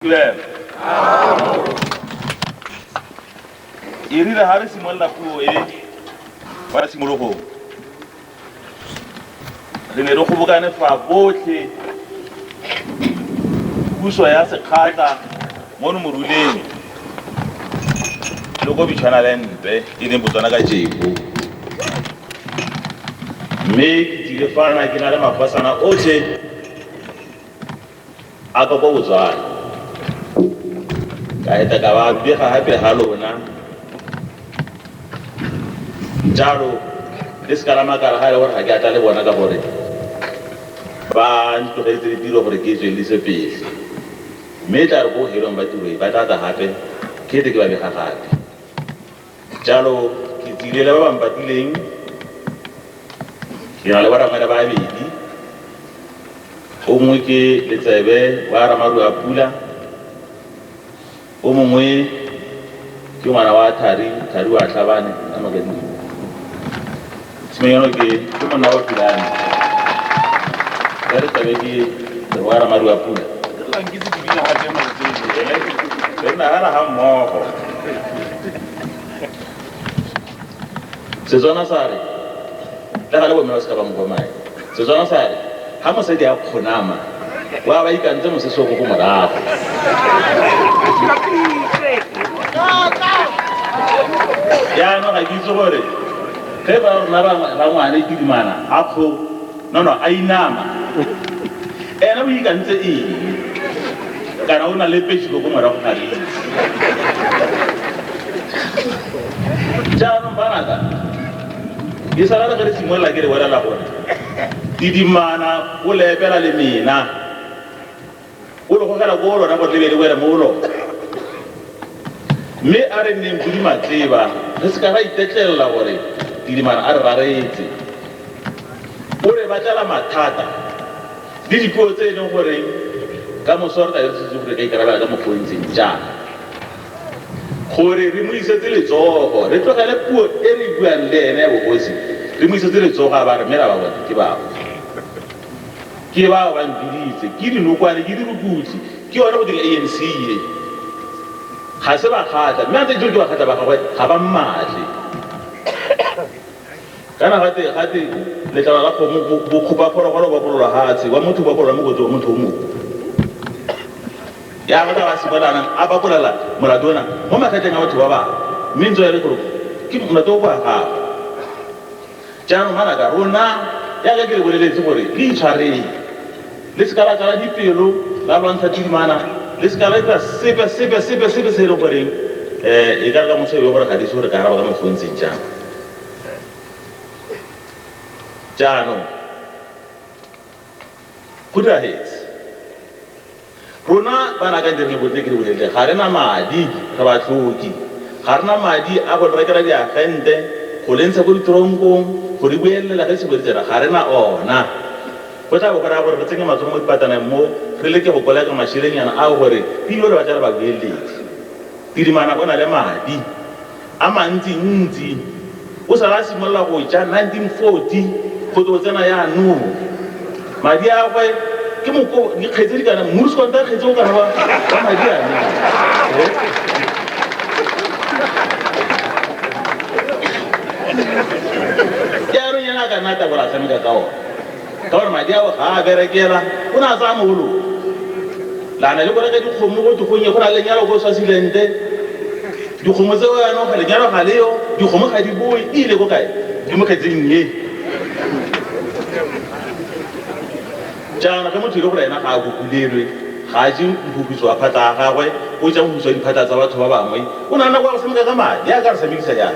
Lem. E rile ga re simolola puo e kwa tshimologong re ne re kgobokane fa botlhe puso ya sekgatla mono moruleng le ko bitshwana le mpe e leng botswana ka jeko mme ke tlile fana ke na le mafasana otlhe a ka kwa botswana ka eta ka ba bega gape ga lona jalo le se ka la makala ga e le gore ga ke atla le bona ka gore ba ntlogetse ditiro gore ke tswelise pele mme e tla re ko helong ba tiro e ba tlatla gape ke ete ke ba bega gape Jalo ke tsile le ba ba mpatileng, ke na le baramela ba babedi, o mongwe ke letsebe wa ramaru a pula, o mongwe ke ngwana wa thari thari wa tlhabane a magadi Tshenyegelo ke ke monna wa Philane. Ya re tlabe ke Leboa Ramadi wa Pula. Re la nkitse ke bina gape mantswe. Re nagana ga mmogo. Setswana sa re, le ga le bomme ba se ka ba mo bomai. Setswana sa re, ha mosadi a kgonama, o a ba ikantse mosese o ko ko morago. Jaanong ga ke itse gore ge ba rona rangwane kidimana a kgo nono a inama ene o ikantse eng kana o na le pesi ko ko morago ga itse jaanong banaka di sala re re simolola ke re bolela gore didimana o lepela le mena o le gogela ko lona go tlebele wele mo lona mme a re nneng podi matleba re se ka ra itetlelela gore didimana a re raretse o re batlela mathata le dipuo tse e leng gore ka moso re tla re setse gore ka ikarabela ka mokgontseng jaana gore re mo isetse letsogo re tlogele puo e re buang le ene ya bogosi re mo isetse letsogo a ba re mela ba bone ke bao ke bao ba mpiditse ke dinokwane ke dirukutli ke yone go dira anc ye ga se ba kgatla mme a ntse ke ke ba kgatla ba gagwe ga ba mmatle Kana gate gate letlalo la kgomo bo- bo kgopa phologolo ba bolola hatshe wa motho ba bolola mo kotsi wa motho o mongwe ya ba ba sebolana a ba bolela molato ona mo makgetleng a batho ba bangwe mme ntse ya le gore ke molato o kwa gago jaanong manaka rona yaka ke le boleletse gore le itshwareng le seka la tsala dipelo la lwantsha tshimana le seka la etsa sepe sepe sepe sepe se e leng goreng um e ka re ka motho e le gore ga di se gore ka araba ka mokgwa o ntseng jang jaanong go diragetse rona bana ka direng botle ke di bolelele ga re na madi re ba tlhoki ga re na madi a go rekela diagente go le ntsha ko ditonkong go di boelela ge sebo ditsela ga re na ona go tla bo go raya gore re tsenye matsogo mo dipataneng mo re leke go koleka mašelenyana ao gore pilo le batla re ba boeletse tidimana o na le madi a mantsintsi o sala a simolola go ja 1940 go tlo tsena yaanong madi a gwe ke moko dikgetse di kana mmuso wa ntakgetse o kana wa madi a jaanong yana ka nna tabola tshameka ka one ka gore madi ao ga a berekela o ne a tsaya mogolo lana le go reka dikgomo go digonye go na le lenyalo ko swasilente dikgomo tseo yanong ga lenyalo ga leyo dikgomo ga di boe e ile ko kae di mo kgetseng ye jaana ge motho ile gore ena ga a kokulelwe ga a je mphuputso wa phatla a gagwe o ja mphuputso wa diphatla tsa batho ba bangwe o nana kwa go sameka ka madi a ka re samekisa jang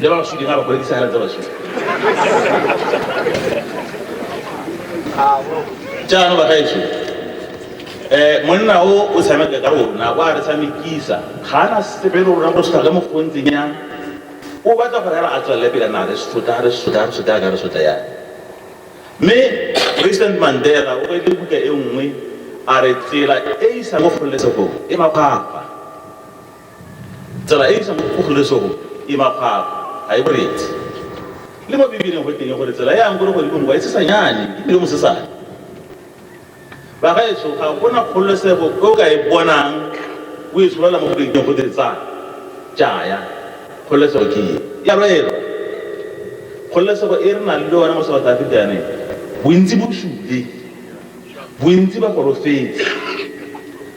le ba baswidi ga ba kgone disegela tsa baswidi jaanong bagaetso um monna o o tshameka ka rona o a re tshamekisa ga a na sepe le rona go sotla le mokgwa o ntseng yang o batla gore ela a tswelele pele na re sotla re sotla re sotla ka re sotla yang mme president mandela o beile buka e nngwe a re tsela e isa mo kgololesegong e mapapa Tsela e e isang ko kgololesegong e makgwakgwa, ga e boretse. Le mo Bibeleng go teng gore tsela e yang ko legodimong kwa e tshesanyane e bile mosesane. Bagaetsho, ga go na kgololesego e o ka e bonang o e tsholela mo go rekeng go te tsaya, jaya. Kgololesego ke e ya lwelwa. Kgololesego e re nang le yone mo South Africa yaneng, bontsi bo sule, bontsi ba golofetse.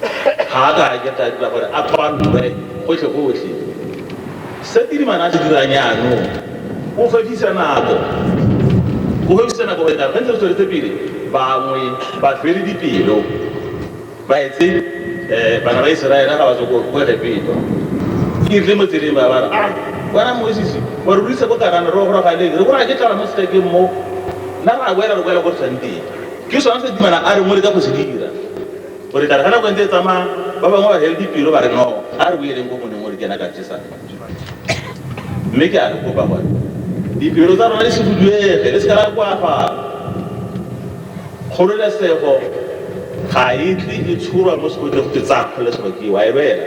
ga a ka a ketla dira gore a tshwanwe gotlhe gotlhe se tirimana a se dirang yaanong o fedisa nako o fedisa nako gore taba ntse tsweletse pele bangwe ba fele dipelo ba etse um bana ba iseraela ga ba tsoko ko egepetwa ke irile mo tseleng ba bara a bona mosisi wa rurisa ko karana re gorogaleng re bona ke tlala mo setekeng mo nna ra boela re boela ko re tshwanteng ke sone se dimana a re mo le ka go se dira gore ka re ga nako e ntse e tsamaya ba bangwe ba healthy pelo ba re no a re boeleng ko moneng gore ke ena ka jesang mme ke a re kopa gore dipelo tsa rona di se buduege le se ka la koafala kgololesego ga e tle e tshorwa mo sekotleng go ke tsaya kgololesego ke wa e lwela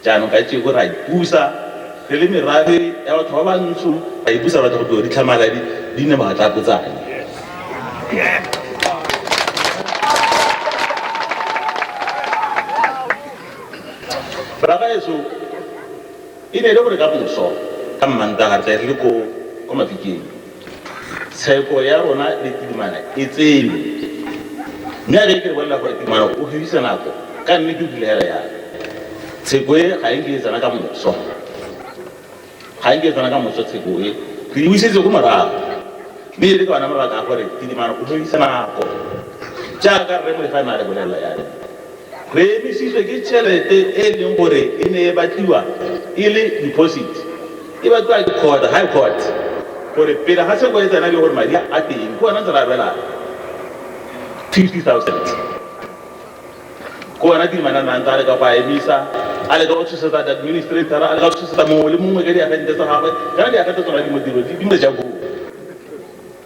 Jaanong kajeko re a ipusa re le merafe ya batho ba bantsho, ra ipusa batho go tlo di tlhamala di di nne maatlapotsane. Ragaeso e ne e le gore ka moso ka mmantaga tle re le ko kwa mafikeng Tsheko ya rona le Tidimana e tseilwe, mme a be ke re bolelela gore Tidimana o fedisa nako ka mme ke o bulegela yana. Tsheko e ga e nke e tsena ka moso, ga e nke e tsena ka moso tsheko e ke e busetse ko morago, mme e le ka ona mabaka a gore Tidimana o fedisa nako jaaka rre Molefa a ne a re bolelela yana. Re emisitswe ke tšhelete e e leng gore e ne e batliwa e le deposit. E batliwa ke court, High Court, gore pele ga se go etsana le gore madi a teng ke ona ntse re abelana 50,000. Ke ona Tidimanana a ntse a leka go a emisa, a leka go tshosetsa di-administrator-ra, a leka go tshosetsa mongwe le mongwe ka diagente tsa gagwe, kana diagente tsona di mo tiro, di mo ja koo.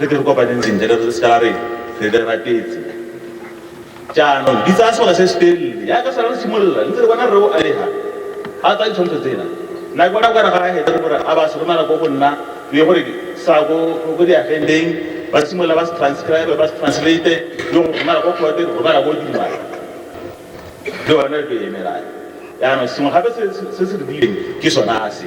re ke re kopaneng sentle re re seka la re re le ratetse jaanong di tsaya sebaka se se telele yaka sala re simolola ntse re bona re o alega a tsaya ditshwantsho tsena nna ke bona kare ga a heta gore a ba se romela ko go nna le gore sa ko ko diagendeng ba simolola ba se transcribe ba se translate le go romela ko kgote go romela ko dimala le one re emelane jaanong sengwe gape se se- se se re dileng ke sona a se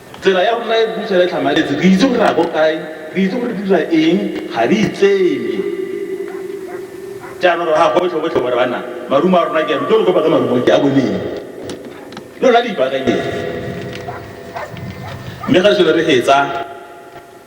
Tsela ya rona e puso ya e tlhamaletse, re itse gore re ya ko kae, re itse gore re dira eng, ga re itseye. Jaanong re ga gotlhe gotlhe gore bana marumo a rona ke ano, jalo ko ba ka marumo ke a boneng lona di ipaakanyeng, mme ga selo re hetsa.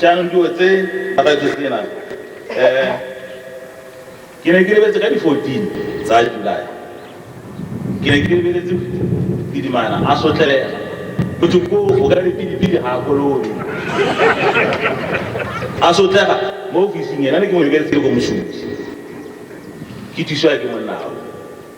Jaanong dilo tse Bagajesena eh ke ne ke lebetse ka di 14 tsa July ke ne ke lebeletse didimana a sotlelega go thwe ko o ka dipidipidi ga a kolone a sotlega mo ofising ena ne ke mo lebeletse le ko mosuti ke thusiwa ke monnao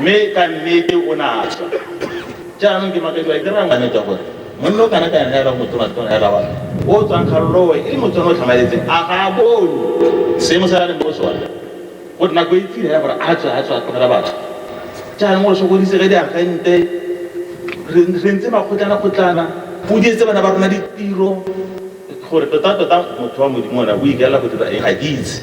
mme ka nnete o ne a tswa jaanong ke makadiwa ke raya ngwaneta gore monna o kana ka yona ela motonatona ela wa o tswang kgalolowe e le motswana o tlhamaletseng a ga a bone seemo se a leng mo sone go nna ko itsile ya gore a tswa a tswa a tlogela batho jaanong o sokodise ge diagente re re ntse makgotlana kgotlana o dietse bana ba rona ditiro gore tota tota motho wa modimo ona o ikaela go dira eng ga ke itse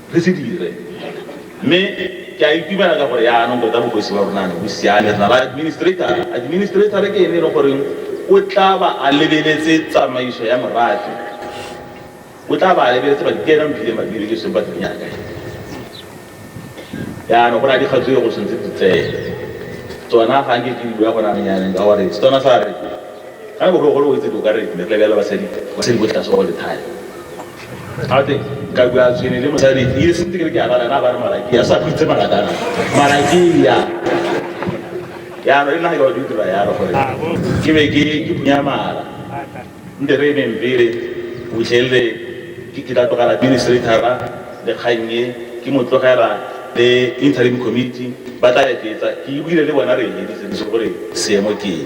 re se dire mme ke a itumela ka gore yaanong tota bogosi ba rona ne bo siame re na la administrator administrator ke ene e leng goreng o tla ba a lebeletse tsamaiso ya morafe o tla ba a lebeletse ba dikena mphile mabile ke seng ba dinyaka yaanong go na dikgatso e go tshwanetse di tseye tsona ga nke ke di bua go naneng yaneng ka gore tsona sa re ga ne bogologolo o itse di o ka re ne re lebelela basadi basadi botlhase ba go lethale gate ka bua tsene le mosadi e se ntse ke re ke abala na ba re malakia sa khutse makatana malakia yalo e nna ga di dira yalo gore ke be ke ke punya mala nte re ne mpele o tshelle ke ke tla tlogela administrator le kgannye ke mo tlogela le interim committee ba tla etsetsa ke buile le bona re editse gore seemo ke